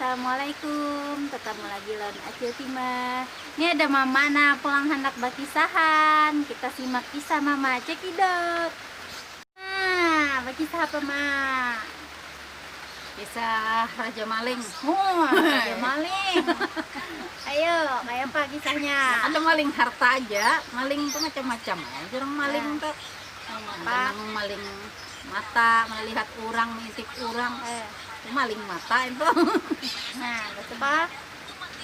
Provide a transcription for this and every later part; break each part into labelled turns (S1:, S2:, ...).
S1: Assalamualaikum, ketemu lagi lawan Acil Sima. Ini ada mama nah pulang hendak bakisahan. Kita simak kisah mama cekidot. Nah, bakisah apa mak? kisah
S2: raja maling muah raja
S1: maling ayo kaya apa kisahnya ada maling harta
S2: aja maling itu macam-macam ya orang maling itu ada nang maling mata melihat orang mengintip orang Eh, itu maling mata itu nah
S1: terus apa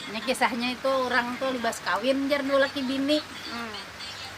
S1: ini
S2: kisahnya itu orang tuh libas kawin jar dua laki bini hmm.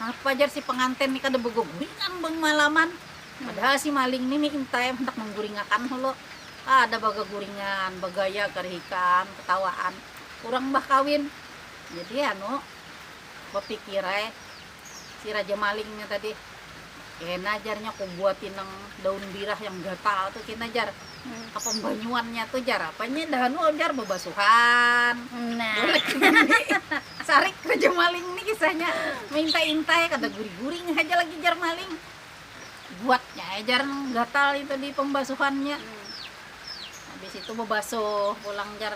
S2: Napa jar si pengantin ni kada begeguringan bemalaman, padahal si maling ni minta ya handak mengguringakan hulu, kada begeguringan, begaya kerihikan, ketawaan, urang bah kawin. Jadi anu bepikir ai si raja maling nya tadi, kena jar nya kubuati nang daun birah yang gatal tu kena jar. Kapambanyuannya tu jar, apanya dah anu jar babasuhan, bulik
S1: mandi,
S2: sarik tu jar maling ni kisahnya, maintai-intai kada guring-guring haja lagi jar maling, buatnya ai jar nang gatal itu di pambasuhannya, habis itu babasuh pulang jar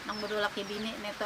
S2: nang badua laki bini nitu.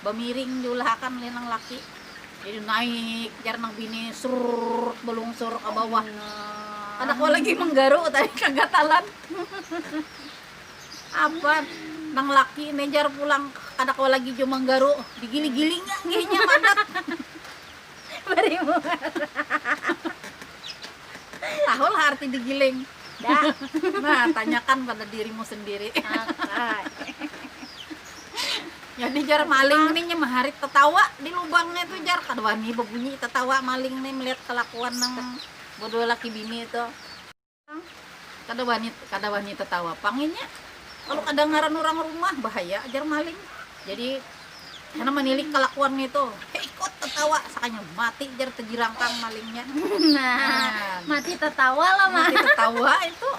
S2: Bamiring diulah akan oleh nang laki, jadi naik jar nang bini sruuuutt balungsur ka bawah kada kawa lagi manggaru tadi kagatalan apa nang laki ne jar pulang kada kawa lagi jua manggaru digiling-gilingan jar inya madak
S1: bari muara
S2: tahulah arti digiling dak
S1: nah tanyakan
S2: pada dirimu sendiri. Jadi jar maling nih nyem hari tetawa di lubangnya itu jar kedua nih berbunyi tetawa maling nih melihat kelakuan nang berdua laki bini itu. Kada wani kada wani tetawa pang inya. Kalau kedengaran orang rumah bahaya jar maling. Jadi karena menilik kelakuannya itu ikut tetawa sakanya mati jar tejirangkang malingnya. Nah,
S1: mati tetawa lah mati tetawa
S2: itu.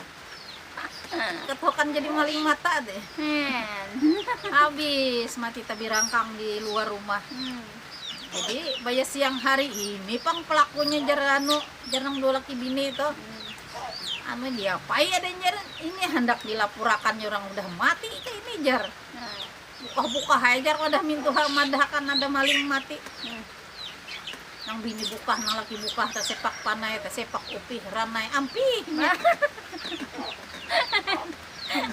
S2: Ketokan jadi maling mata te. Habis mati tabirangkang di luar rumah. Jadi baya siang hari ini pang pelakunya jar anu jar nang dua laki bini itu. Anu diapai ada jar ini handak dilapurakan orang udah mati ke ini jar. Bukah-bukah aja jar wadah mintuha madahkan ada maling mati. Nang bini bukah, nang laki bukah, tasepak panai, tasepak upih, ranai, ampih nya.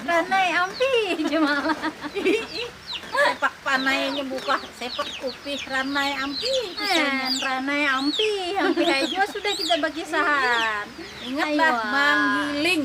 S1: Ranai ampih ja malah.
S2: sepak panai nya bukah, sepak upih, ranai ampih kisahnya. Nah, ranai
S1: ampih, ampih aja juga sudah kita bakisahan. Ingatlah Aywa.
S2: manggiling.